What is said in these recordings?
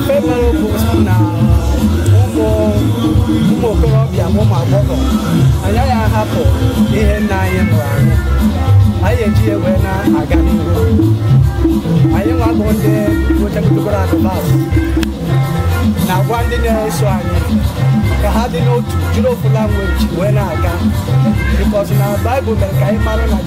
Ife mere okwu na ụmụ okorobịa ma ụmụ agbọghọ anyị agaghị ahapụ ihe nna anyị mụrụ anyị anyị eji ya wee na-aga n'ihu anyị nwa bụ ndị gochagidogoro advance na-agwa ndị na-eso anyị ka ha dị n'otu jiri ofu language wee na-aga because na Bible mere ka anyị mara na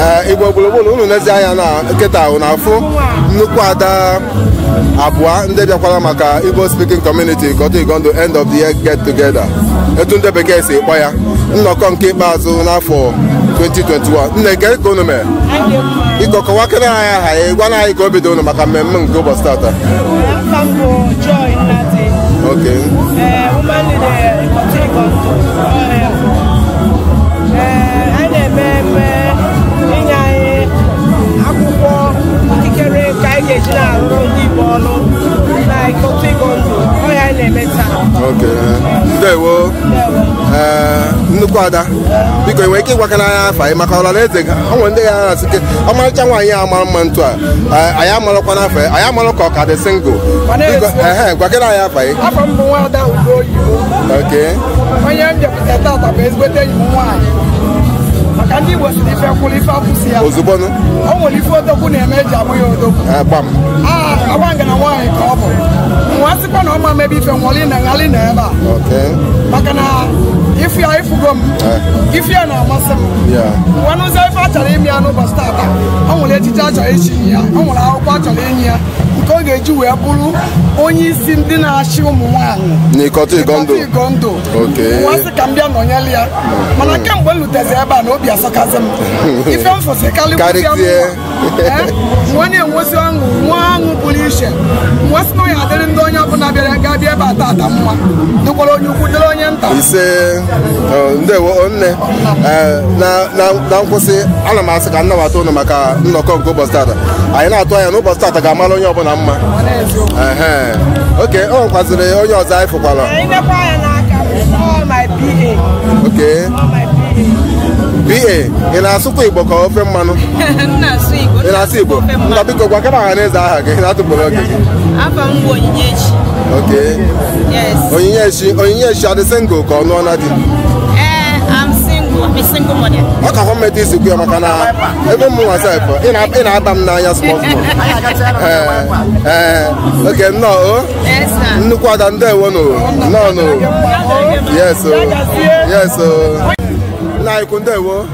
ee igbo gburugburu unu nezi anya na kịta unu na-afụ nnukwu ada abụọ ndị bịakwara maka igbo speaking community Ikotun Igando end of the year get together etu ndị bekee si kpọ ya nnọkọ nke ikpeazụ n'afọ 2021 nne kee ka unu mere biko kọwakene anyị aha ya gwana anyị ka obi dị unu maka mmemme nke ụbọchị tata Afa m bụ Joy Nnadi, okay. eh, woman leader, Ikotun Igando. ada biko i nwere ike ịgwakana anyị afa gị maka ọra na eze o nwere ndị ya na-asị kee ọmarịcha nwaanyị a mara mma otu a anyị amarọkwanụ afa ya anyị amarọ ka ọ ka dị single gwakana anyị afa gị onye m bịakwute tata bụ ezigbote enyi m nwaanyị maka ndị Igbo sị ife kwụrụ ife akwụsị ya ozugbo nụ o nwere ife odogwu na-eme eji aba ya odogwu ee, gbam Ah, agba ngana nwaanyị ka ọ bụ m wee sịkwa na ọ ma mebe ife nwụọlị na m ghalị ịnọ ebe a okay maka na ị fụ ya ị fụgo m ifu ya na-amasị m m wee nụzi ife a chọrọ ime ya n'ụbọchị tata o nwere echichi a chọrọ ichi ya o nwere akwụkwọ a chọrọ inye ya nke ọ ga-eji wee bụrụ onye isi ndị na-achị ụmụ nwaanyị n'Ikotun Igando m wee sị ka m bịa nọnyere ya mana kemgbe m lutezi ebe a na obi asọkazi m ife m fụsị karịa m wee na-enwezi ọṅụ nwee ọṅụ pụrụ iche m wee sị ka ya dịrị ndị onye ọbụla bịara ga-abịa ebe a tata mma dịkwara onye ukwu dịrị onye nta ndewo nne eh, na nkwụsị ana m asị ka m nabata ụnụ maka nnọkọ nke ụbọchị tata anyị na-atụ anya na ụbọchị tata ga-amara onye ọbụla mma okay o nwekwaziri onye ọzọ anyị fụkwara okay pa ị na-asụkwa igbo ka ofe mmanụ ị na-asụ igbo nna biko gwakana ọha na eze aha gị n'atụfurọ oge gị Okay. Yes. Onyinyechi, Onyinyechi adị single ka ọ nụọna di. Eh, I'm single. I'm a single mother. Ọ ka hụ mmeta isi kwuo maka na ebe mụ nwa sef ị na- ị na-aba m n'anya small small. Ee, ee, okay nnọọ o. Yes, sir. Nnukwu ada ndewo nụ nnọọ nụ. Yes o. Yes o. Nna anyị ukwu ndewo.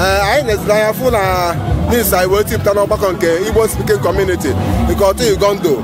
Ee, anyị na-eziri anya fụ na news anyị wee tipụta n'ọgbakọ nke Igbo Speaking Community nke Ikotun Igando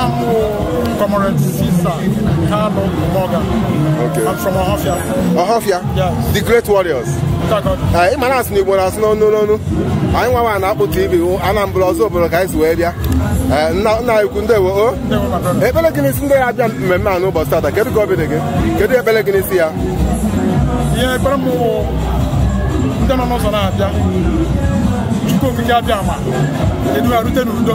I'm Comrade Sisa Kano Morgan. Okay. I'm from Ohafia. Ohafia? Yes. The Great Warriors. Ị ma na a sị n'Igbo na-asụ n'onu n'onu anyị nwa na akpụ TV Anambra ọzọ obodo ka anyị si wee bịa nna anyị ukwu ndewo o ekpere gị n'isi ndị ya-abịa mmemme a n'ụbọchị tata kedu ka obi dị gị kedu ekpere gị n'isi ya ee ekpere m ndị nọ n'ụzọ na-abịa Chukwu okike Abịama edu ha rute n'udo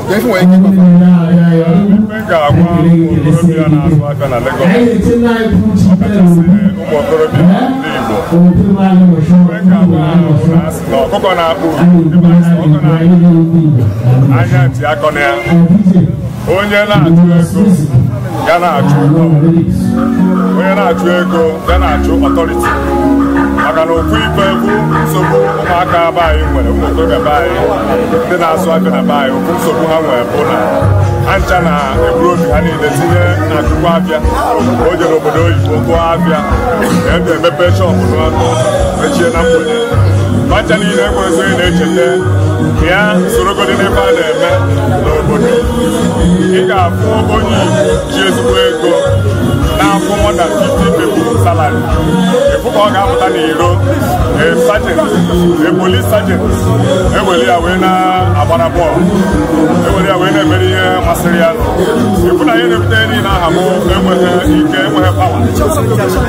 ọkụkọ na-akpụ anya ntị akọna ya onye na-achụ ego ya na-achụ ego onye na-achụ ego ya na-achụ authority maka na ofu ife bụ nsogbu ụmụaka be anyị nwere ụmụ okorobịa be anyị ndị na-azụ afịa na be anyị ofu nsogbu ha nwere bụ na ha ncha na-eburu obi ha niile tinye n'akụkụ afịa o jere obodo oyibo goo afịa na ebi emepe shop n'ọnụ mechie na mgbede fa ncha niile enwezi onye na-echeta ka ya sorogodi n'ife a na-eme n'obodo ị ga-afụ onye Igbo ji ezigbo ego na-akwụ more than 50 people salary ị fụ ka ọ ga-apụta n'iro a sergeant a police sergeant ewere ya wee na-agbara bọọlụ ewere ya wee na-emere ihe masịrị ya ị fụ na ihe na-ebute ihe niile ahụ bụ enweghị ike enweghị power